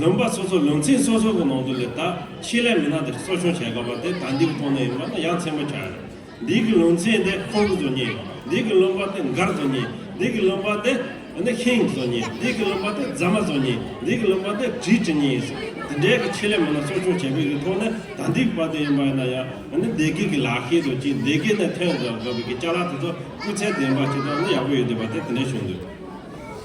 ལུང་པ་སོ་སོ་ལུང་ཚན་སོ་སོ་གི་ནང་དུ་ལས་དག་ཆེད་ལས་མི་སྣ་དེར་གསོ་སྐྱོང་བྱེད་དགོས་པ་དེ་དག་འདི་གི་ཐོག་ནས་ཡིན་པ་ནི་ཡ་མཚན་མོ་ཆགས་ཡོད། འདི་གི་ལུང་ཚན་དེ་ཁོང་གི་བཟོ་ཉེས། འདི་གི་ལུང་པ་དེ་མགར་བཟོ་ཉེས། འདི་གི་ལུང་པ་དེ་ནི་ཧིན་བཟོ་ཉེས། འདི་གི་ལུང་པ་དེ་རྫ་མ་བཟོ་ཉེས། འདི་གི་ལུང་པ་དེ་བྲིས་བྲི་ཉེས་སོགས་དེ་འདྲའི་གི་ཆེད་ལས་མི་སྣ་གསོ་སྐྱོང་བྱེད་པའི་གི་ཐོག་ནས་དག་འདི་གི་བར་དུ་ཡིན་པ་ཡིན་ན་ཡང་ནི་སྡེ་དགེ་གི་ལག་ཤེས་དང་གཅིག་སྡེ་དགེ་ནས་ཐོན་དགོས་པའི་གི་བཅའ་ལག་དེ་ཚོ་སྤུས་ཚད་ལྡན་པ་ཞིག་དང་ནི་ཡག་པོ་ཡོད་དགོས་པ་དེ་དེ་འདྲ་བྱུང་འདུག།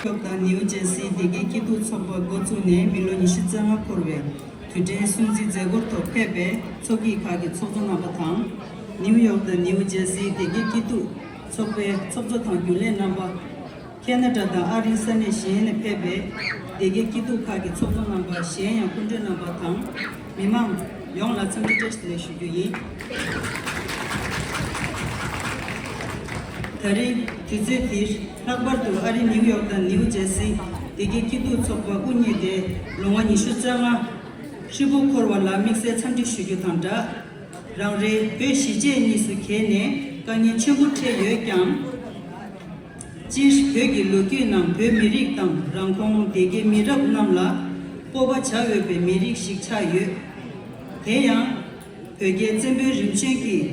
ཀྱོག་དང་ནིའུ་ཇེར་སིའི་སྡེ་དགེའི་སྐྱིད་སྡུག་ཚོགས་པ་མགོ་བཙུགས་ནས་མི་ལོ་ཉི་ཤུ་རྩ་ལྔ་འཁོར་བའི་དུས་དྲན་སྲུང་བརྩི་མཛད་སྒོར་ཐོག་ཕེབས་པའི་ཚོགས་སྐྱིད་ཁག་གི་ཚོགས་གཙོ་རྣམ་པ་དང། ནིའུ་ཡོག་དང་ནིའུ་ཇེར་སིའི་སྡེ་དགེའི་སྐྱིད་སྡུག་ཚོགས་པའི་ཚོགས་གཙོ་དང་རྒྱུན་ལས་རྣམ་པ། ཁེ་ན་ཏྲ་དང་ཨ་རིའི་ས་གནས་གཞན་ནས་ཕེབས་པའི་སྡེ་དགེའི་སྐྱིད་སྡུག་ཁག་གི་ཚོགས་གཙོ་རྣམ་པ་གཞན་ཡང་སྐུ་མགྲོན་རྣམ་པ་དང། མི་དམངས་ཡོངས་ལ་འཚམས་འདྲི་བཀྲ་ཤིས་བདེ་ཞུ་རྒྱུ་ཡིན། ད་རེས་དུས་ཚོད་འདིར་ལྷག་པར་དུ་ཨ་རི་ནིའུ་ཡོག་དང་ནིའུ་ཇེར་སི་སྡེ་དགེ་སྐྱིད་སྡུག་ཚོགས་པ་དབུ་བརྙེས་ཏེ་ལོ་ངོ་ཉི་ཤུ་རྩ་ལྔ་ཧྲིལ་པོ་འཁོར་བ་ལ་དམིགས་བསལ་འཚམས་འདྲི་ཞུ་རྒྱུ་དང་སྦྲགས། རང་རེའི་བོད་གཞིས་བྱེས་གཉིས་སུ་གྱེས་ནས་དཀའ་ངལ་ཆེན་པོ་འཕྲད་ཡོད་ཀྱང། སྤྱིར་བོད་ཀྱི་ལོ་རྒྱུས་ནང་བོད་མི་རིགས་དང་རང་ཁོངས་སྡེ་དགེ་མི་རབས་རྣམས་ལ་སྤོབས་པ་བྱ་འོས་པའི་མི་རིགས་ཤིག་ཆགས་ཡོད། དེ་ཡང། བོད་རྒྱལ་བཙན་པོའི་རིམ་བྱོན་གྱིས་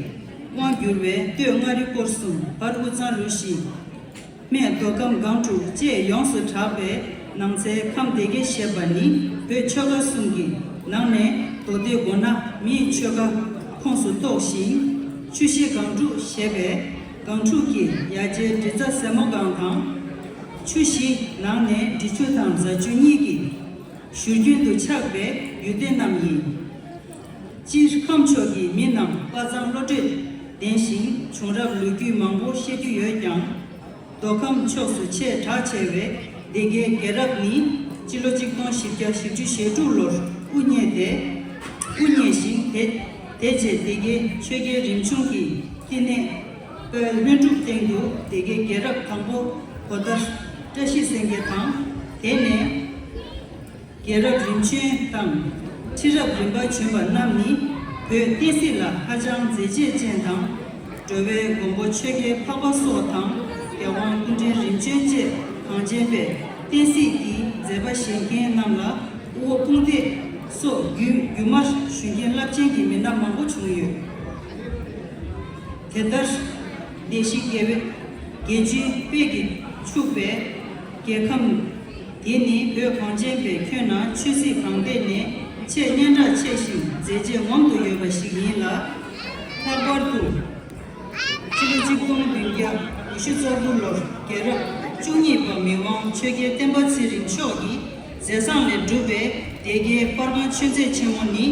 དབང་བསྒྱུར་བའི་སྟོད་མངའ་རིས་སྐོར་གསུམ་བར་དབུས་གཙང་རུ་བཞི། སྨད་མདོ་ཁམས་སྒང་དྲུག་བཅས་ཡོངས་སུ་གྲགས་པའི་ནང་ཚའི་ཁམས་སྡེ་དགེ་ཞེས་པ་ནི་བོད་ཆོལ་ཁ་གསུམ་གྱི་ནང་ནས་མདོ་སྡེ་དགོན་ནག་མིའི་ཆོལ་ཁ་ཁོངས་སུ་གཏོགས་ཤིང། ཆུ་བཞི་སྒང་དྲུག་ཞེས་པའི། སྒང་དྲུག་གི་ཡ་གྱལ་འབྲི་རྩ་ཟལ་མོ་སྒང་དང། ཆུ་བཞི་ནང་ནས་འབྲི་ཆུ་དང་རྫ་ཆུ་གཉིས་ཀྱི་བཞུར་རྒྱུན་དུ་ཆགས་པའི་ཡུལ་སྡེ་རྣམས་ཡིན། སྤྱིར་ཁམས་ཕྱོགས་ཀྱི་མི་རྣམས་དཔའ་མཛངས་བློ་གྲོས་ལྡན་ཞིང་བྱུང་རབས་ལོ་རྒྱུས་མང་པོ་ཤེས་རྒྱུ་ཡོད་ཀྱང། མདོ་ཁམས་ཕྱོགས་སུ་ཆེས་གྲགས་ཆེ་བའི་སྡེ་དགེའི་རྒྱལ་རབས་ནི་སྤྱི་ལོ་གཅིག་སྟོང་བཞི་བརྒྱ་བཞི་བཅུ་ཞེ་དྲུག་ལོར་དབུ་བརྙེས་ཏེ། དབུ་བརྙེས་ཤིང་དེ། དེ་རྗེས་སྡེ་དགེ་ཆོས་རྒྱལ་རིམ་བྱུང་གི་སྐྱེ་གནས། སྤོས་ལྷུན་གྲུབ་སྟེང་དུ་སྡེ་དགེ་རྒྱལ་རབས་དང་པོ་གོ་ལྟར། བཀྲ་ཤིས་སེང་གེ་དང། དེ་ནས། རྒྱལ་རབས་རིམ་བྱོན་དང། ཁྲི་རབས་རིམ་པ་བྱོན་པ་རྣམས་ནི་བོད་བསྟན་སྲིད་ལ་ཧ་ཅང་མཛད་རྗེས་ཅན་དང། འགྲོ་བའི་མགོན་པོ་ཆོས་རྒྱལ་འཕགས་པ་སོགས་དང་རྒྱལ་དབང་སྐུ་འཕྲེང་རིམ་བྱོན་བཅས་གངས་ཅན་པའི་བསྟན་སྲིད་ཀྱི་མཛད་པ་བཞེས་མཁན་རྣམས་ལ་དབུ་དཔུང་སྟེ། སོགས་བརྒྱུད་རྒྱུ་མར་ཞུ་མཁན་རླབས་ཆེན་གྱི་མི་སྣ་མང་པོ་བྱུང་ཡོད། དེ་ལྟར། བདེ་གཤེགས་དགེ་བའི་རྒྱལ་བཅུའི་དཔལ་གྱིས་ཕྱུག་པའི་རྒྱལ་ཁམས་འདི་ནི་བོད་གངས་ཅན་པའི་ཁྱོན་ན་ཆོས་སྲིད་གང་སྤེལ་ནས་ཆེས་སྙན་གྲགས་ཆེ་ཞིང་མཛེས་རྗེས་ངོམ་དུ་ཡོད་པ་ཞིག་ཡིན་ལ། ལྷག་པར་དུ། ཕྱི་ལོ་གཅིག་སྟོང་བདུན་བརྒྱ་ཉི་ཤུ་རྩ་དགུ་ལོར་རྒྱལ་རབས་བཅུ་གཉིས་པ་མི་དབང་ཆོས་རྒྱལ་བསྟན་པ་ཚེ་རིང་མཆོག་གི་མཛད་བཟང་ལས་གྲུབ་པའི་སྡེ་དགེའི་སྤར་ཁང་ཆོས་མཛད་ཆེན་མོ་ནི་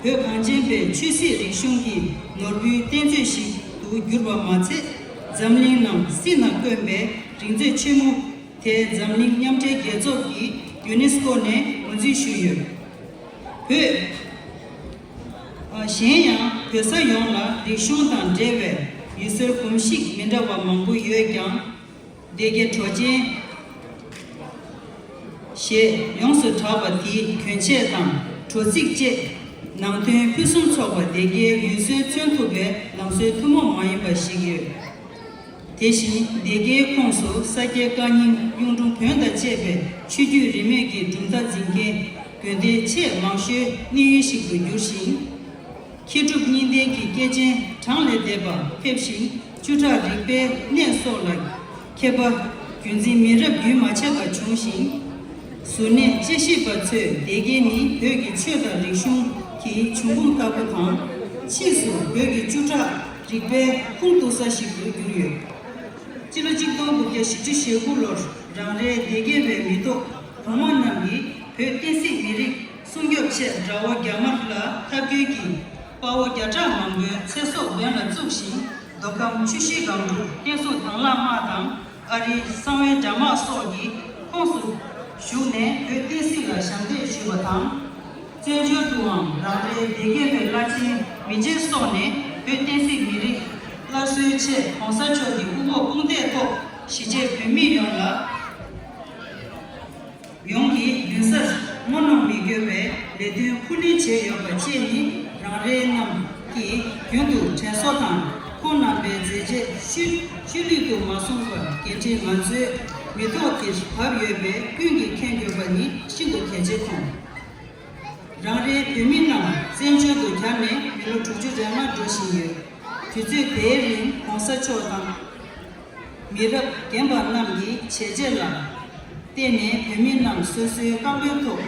བོད་གངས་ཅན་པའི་ཆོས་སྲིད་རིག་གཞུང་གི་ནོར་བུའི་གཏེར་མཛོད་ཞིག་ཏུ་གྱུར་པ་མ་ཚད་འཛམ་གླིང་ནང་སྲིད་ན་དཀོན་པའི་རིག་མཛོད་ཆེན་མོ་དེ་འཛམ་གླིང་མཉམ་འབྲེལ་རྒྱལ་ཚོགས་ཀྱི་ཡུ་ནེ་སི་ཀོ་ནས་ངོས་འཛིན་ཞུས་ཡོད། བོད། གཞན་ཡང་བོད་ས་ཡོངས་ལ་རིག་གཞུང་དང་འབྲེལ་བའི་ཡུལ་སྲོལ་གོམས་གཤིས་མི་འདྲ་བ་མང་པོ་ཡོད་ཀྱང། སྡེ་དགེ་གྲོ་ཅན། ཞེས་ཡོངས་སུ་གྲགས་པ་དེའི་གྱོན་ཆས་དང་དྲོ་ཚིགས་བཅས་ནང་དོན་ཕུན་སུམ་ཚོགས་པ་སྡེ་དགེའི་ཡུལ་སྲོལ་མཚོན་ཐུབ་པའི་ལང་སྲོལ་ཐུན་མོང་མ་ཡིན་པ་ཞིག་ཡོད། དེ་བཞིན་སྡེ་དགེའི་ཁོངས་སུ་ས་སྐྱའི་བཀའ་རྙིང་གཡུང་དྲུང་བོན་དང་བཅས་པའི་ཆོས་བརྒྱུད་རིས་མེད་ཀྱི་གྲུབ་མཐའ་འཛིན་མཁན་དགོན་སྡེ་ཆེས་མང་ཤོས་གནས་ཡུལ་ཞིག་ཏུ་གྱུར་ཞིང། མཁས་གྲུབ་གཉིས་ལྡན་གྱི་སྐྱེས་ཆེན་གྲངས་ལས་འདས་པ་ཕེབས་ཤིང་བཅུ་ཕྲག་རིག་པའི་གནས་སོགས་ལ་མཁས་པ་བརྒྱུད་འཛིན་མི་རབས་རྒྱུན་མ་ཆད་པ་བྱུང་ཞིང། གཟུར་གནས་དཔྱད་ཞིབ་པ་ཚོས་སྡེ་དགེ་ནི་བོད་ཀྱི་ཆོས་དང་རིག་གཞུང་གི་འབྱུང་ཁུངས་ལྟ་བུ་དང། ཕྱིས་སུ་བོད་ཀྱི་བཅུ་ཕྲག། རིག་པའི་ཁུངས་གཏུགས་ས་ཞིག་ཏུ་གྱུར་ཡོད། སྤྱི་ལོ་གཅིག་སྟོང་དགུ་བརྒྱ་བཞི་ཅུ་ཞེ་དགུ་ལོར་རང་རེའི་སྡེ་དགེ་བའི་མི་ཐོག་གོང་མ་རྣམས་ཀྱིས་བོད་བསྟན་སྲིད་མི་རིགས་སྲུང་སྐྱོབ་ཆེད་དགྲ་བོ་རྒྱ་དམར་ལ་ཐབས་སྐྱོན་གྱིས་དཔའ་བོ་བརྒྱ་ཕྲག་མང་པོའི་ཚེ་སྲོག་འབེན་ལ་བཙུགས་ཤིང་མདོ་ཁམས་ཆུ་བཞི་སྒང་དྲུག་བསྟན་སྲུང་དྭང་བླངས་དམག་དང་ཨ་རིའི་གསང་བའི་དྲ་དམག་སོགས་ཀྱི་ཁོངས་སུ་ཞུགས་ནས་བོད་བསྟན་སྲིད་ལ་ཞབས་འདེགས་ཞུས་པ་དང། བཙན་བྱོལ་དུའང་རང་རེའི་སྡེ་དགེ་བོད་བླ་ཆེན་མི་རྗེ་སོགས་ནས་བོད་བསྟན་སྲིད་མི་རིགས་སླར་གསོའི་ཆེད་གོང་ས་མཆོག་གི་དབུ་འབོག་དཔུང་འདེགས་ཐོག་གཞིས་བྱེས་བོད་མི་ཡོངས་ལ། ཡོངས་ཀྱིས་མདུན་སར་རྔོ་སྣོམ་མི་དགོས་པའི་ལས་དོན་ཁུར་ལེན་བྱས་ཡོད་པ་བཅས་ནི་རང་རེ་རྣམས་ཀྱིས་རྒྱུན་དུ་དྲན་གསོ་དང་ཁོང་རྣམ་པའི་མཛད་རྗེས་ཤུལ་ལུས་དུ་མ་བཟུང་བར་འགན་འཁྲི་ང་ཚོའི་མི་ཐོག་གིས་བབས་ཡོད་པས་ཀུན་གྱིས་མཁྱེན་དགོས་པ་ནི་ཤིན་ཏུ་གལ་ཆེ་མཐོང། རང་རེའི་བོད་མི་རྣམས་བཙན་བྱོལ་དུ་གྱར་ནས་མི་ལོ་དྲུག་ཅུ་རེ་ལྔ་འགྲོ་བཞིན་ཡོད། དུས་ཚོད་དེའི་རིང་གོང་ས་མཆོག་དང། མི་རབས་རྒན་པ་རྣམས་ཀྱི་བྱས་རྗེས་ལ་བརྟེན་ནས་བོད་མི་རྣམས་སོ་སོའི་བཀའ་བློན་ཐོག་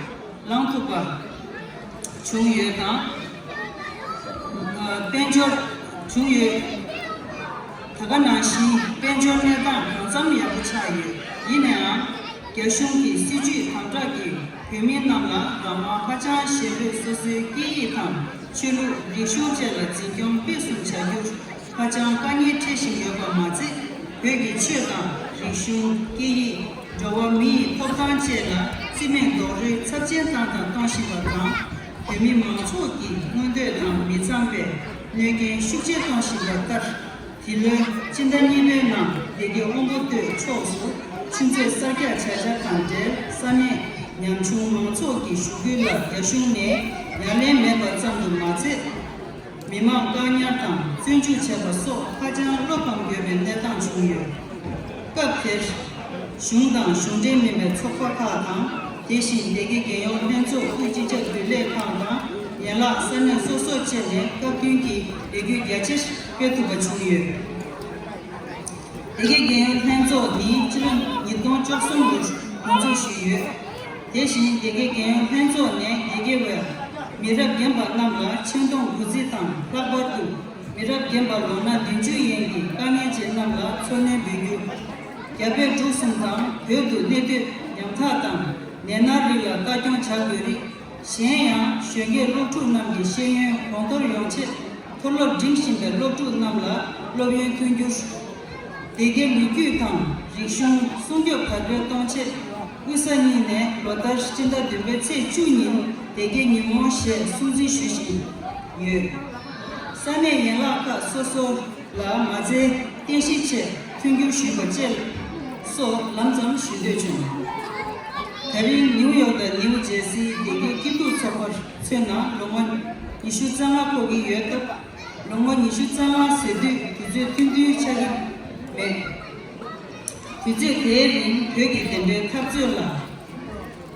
ལངས་ཐུབ་པ་བྱུང་ཡོད་དང། དཔལ་འབྱོར་བྱུང་ཡོད། ད་ག་ནང་བཞིན་དཔལ་འབྱོར་གནས་སྟངས་གང་འཚམ་ཡག་པོ་ཆགས་ཡོད་ཡིན་ནའང། རྒྱ་གཞུང་གི་སྲིད་ཇུས་དམ་དྲག་གིས་བོད་མི་རྣམས་ལ་རང་དབང་ཧ་ཅང་ཞན་པོས་སོ་སོའི་སྐད་ཡིག་དང་ཆོས་ལུགས་རིག་གཞུང་བཅས་ལ་འཛིན་སྐྱོང་སྤེལ་གསུམ་བྱ་རྒྱུར་ཧ་ཅང་དཀའ་ངལ་འཕྲད་བཞིན་ཡོད་པ་མ་ཟད་བོད་ཀྱི་ཆོས་དང་རིག་གཞུང་སྐད་ཡིག་འགྲོ་བ་མི་ཡི་ཐོབ་ཐང་བཅས་ལ་རྩིས་མེད་རྡོག་རོལ་ཚབས་ཆེན་བཏང་དང་གཏོང་བཞིན་པ་དང། བོད་མི་མང་ཚོགས་ཀྱི་མངོན་འདོད་དང་མི་འཚམས་པའི་གནོད་རྐྱེན་ཤུགས་ཆེ་གཏོང་བཞིན་པ་ལྟར། འདི་ལོའི་སྤྱི་ཟླ་གཉིས་པའི་ནང་སྡེ་དགེ་དབོན་པོ་སྟོད་ཕྱོགས་སུ་ཆུ་མཛོད་གསར་རྒྱག་བྱ་འཆར་དང་འབྲེལ་ས་གནས་ཉམ་ཆུང་མང་ཚོགས་ཀྱི་ཞུ་སྐུལ་ལ་རྒྱ་གཞུང་ནས་ཡ་ལན་མེད་པ་ཙམ་དུ་མ་ཟད། མི་དམངས་བཀག་ཉར་དང་བཙོན་འཇུག་བྱས་པ་སོགས་ཧ་ཅང་བློ་ཕམ་ཡོད་པའི་གནས་སྟངས་བྱུང་ཡོད། སྐབས་དེར། གཞུང་དང་གཞུང་འབྲེལ་མིན་པའི་ཚོགས་པ་ཁག་དང་དེ་བཞིན་སྡེ་དགེ་རྒྱལ་ཡོངས་ལྷན་ཚོགས་ཁུལ་སྤྱི་ཁྱབ་རྒྱུན་ལས་ཁང་དང་ཡན་ལག་ས་གནས་སོ་སོར་བཅས་ནས་བཀའ་བཀྱོན་གྱི་ལས་འགུལ་རྒྱ་ཆེར་སྤེལ་ཐུབ་པ་བྱུང་ཡོད། དགེ་རྒན་ལྷན་ཚོགས་ནི་ཕྱི་ལོ་ཉིས་སྟོང་བཅུ་གསུམ་ལོར་གོ་འཛུགས་ཞུས་ཡོད། དེ་བཞིན་དགེ་རྒན་ལྷན་ཚོགས་ནས་དགེ་རྒན་བས་མི་རབས་རྒན་པ་རྣམས་ལ་ཆེ་མཐོང་དགུ་རྩི་དང་ལྷག་པར་དུ་མི་རབས་རྒན་པ་ལོ་ན་བདུན་ཅུའི་ཡན་གྱི་དཀའ་ངལ་ཅན་རྣམས་ལ་འཚོ་སྣོན་འབུལ་རྒྱུ། རྒྱ་བལ་འབྲུག་གསུམ་དང་བོད་དུ་གནས་སྡོད་ཉམ་ཐག་དང་ནད་མནར་རིགས་ལ་ལྟ་སྐྱོང་བྱ་དགོས་རིགས། གཞན་ཡང་གཞོན་སྐྱེས་སློབ་ཕྲུག་རྣམས་ཀྱི་ཤེས་ཡོན་གོང་མཐོར་ཡོང་ཆེད་མཐོ་སློབ་འགྲིམ་བཞིན་པའི་སློབ་ཕྲུག་རྣམས་ལ་སློབ་ཡོན་མཐུན་འགྱུར། སྡེ་དགེ་ལོ་རྒྱུས་དང་རིག་གཞུང་སྲུང་སྐྱོབ་དར་སྤེལ་གཏོང་ཆེད་དབུས་ས་གཉིས་ནས་ལོ་ལྟར་སྤྱི་ཟླ་བདུན་པའི་ཚེས་བཅུ་ཉིན་སྡེ་དགེ་ཉིན་མོ་ཞེས་སྲུང་འཛིན་ཞུ་བཞིན་ཡོད། ས་གནས་ཡན་ལག་ཁག་སོ་སོ། ལ་མ་རྩའི་རྟེན་གཞི་ཆེད་མཐུན་འགྱུར་ཞུས་པ་བཅས་སོགས་ལམ་ཙམ་ཞུ་འདོད་བྱུང། ད་རིང་ནིའུ་ཡོག་དང་ནིའུ་ཇེར་སིའི་བདེ་སྐྱིད་སྐྱིད་སྡུག་ཚོགས་པར་མཚོན་ན་ལོ་ངོ་ཉི་ཤུ་རྩ་ལྔ་འཁོར་གྱི་ཡོད་སྟབས་ལོ་ངོ་ཉི་ཤུ་རྩ་ལྔ་ཟེར་དུས་དུས་ཚོད་ཐུང་ཐུང་ཆགས་ཀྱི་མེད། དུས་ཚོད་དེའི་རིང་བོད་ཀྱི་བདེན་པའི་འཐབ་རྩོད་ལ།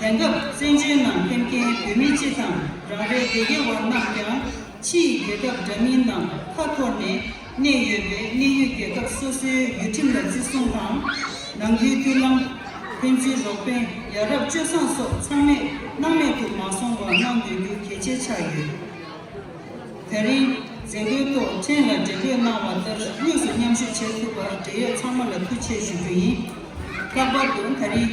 དེང་སྐབས་བཙན་བྱོལ་ནང་སླེབས་མཁན་བོད་མི་སྤྱི་དང་རང་རེའི་སྡེ་དགེ་བ་རྣམས་ཀྱང་ཕྱི་ཡི་རྒྱལ་ཁབ་འདྲ་མིན་ནང་ཁ་འཐོར་ནས་གནས་ཡོད་པས་གནས་ཡུལ་རྒྱལ་ཁབ་སོ་སོའི་ཡུལ་ཁྲིམས་ལ་བརྩི་སྲུང་དང། ནང་ཁུལ་མཐུན་ལམ། ཕན་ཚུན་རོགས་ཕན་ཡ་རབས་སྤྱོད་བཟང་སོགས་ཚང་མས་སྣང་མེད་དུ་མ་སོང་བ་གནང་འདོད་རྒྱུ་གལ་ཆེ་ཆགས་ཡོད། དེ་རིང་མཛད་སྒོའི་ཐོག་ཕྲན་ལ་འབྲེལ་བཀོད་གནང་བ་ལྟར་དངོས་སུ་མཉམ་ཞུགས་བྱེད་ཐུབ་པར་འབྲེལ་ཡོད་ཚང་མ་ལ་ཐུགས་ཆེ་ཞུ་རྒྱུ་ཡིན། ལྷག་པར་དུ་ད་རིང།